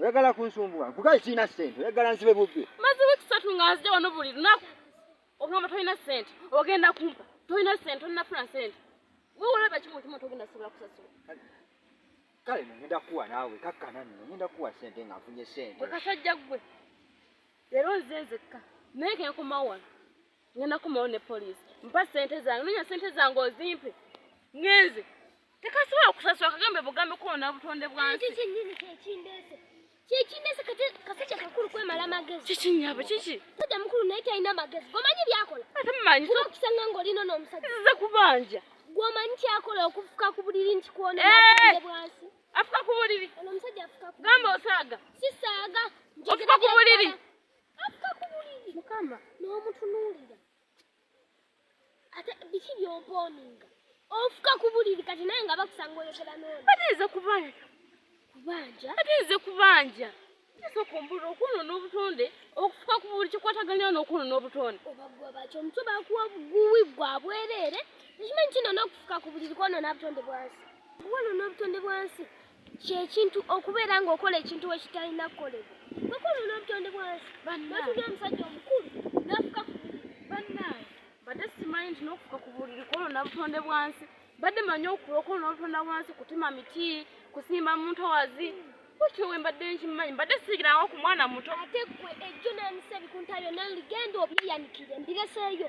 oyagala kunsumbuwa nkugaye kirina sente oyagala nsibe bubbi maze wiiki satu nga nzija wano buli lunaku ogamba tolina sente ogenda kumpa tolina sente olinafuna sente wewolaba kimu kimu togenda sobola kusasula kale nogenda kuwa naawe kakkana nno ogenda kuwa sente nga nfunye sente kasajja gwe leero nze nzekka naye kenkomawo wano ngenda kumawo ne poliisi mpa sente zange nonya sente zange ozimpe ngenze tekasobola kusasula kagambe bugambe kuona butonde bwansi kyekindese kati kasajja kakulu kwemala magezi kiki nyabo kiki sajja mukulu naye talina magezi gomanyi byakola ate mumanyi okusanga ngaolino n'omusajja zize kubanja gwomanyi kyakola okufuka ku buliri nti kuona eh! bwansi afuka ku buliri ono omusajja afuka gamba osaaga sisaaga ofuka ku buliri Afika ku buliri. Mukama. N'omutunuulira. Ate biki by'ompooninga? Ofuka ku buliri kati naye nga bakusanga oyogera n'ono. Bateeze kubanja. Kubanja? Bateeze kubanja. Teese okumbulira okuno n'obutonde okufuka ku buli kikwataganira n'okuno n'obutonde. Obagwa bakyo omutwe bakuwa buwi gwa bwereere. Ekimanyi kino n'okufuka ku buliri kwona n'obutonde bwansi. Wano n'obutonde bwansi. kyekintu okubeera ng'okola ekintu wekitalina kukolebwa bakulu n'obutonde bwansi batuli omusajja omukulu nafuka banaye badde simanyi nti n'okufuka ku buliri kwolwo nabutonde bwansi badde manyi okulo kwolwo n'obutonda bwansi kutima miti kusimba muntu owazi kutyo we mbadde nkimanyi mbadde siigirawo ku mwana muto ate gwe ejjo n'emisebi kuntayo naligenda obyeyanikire mbireseeyo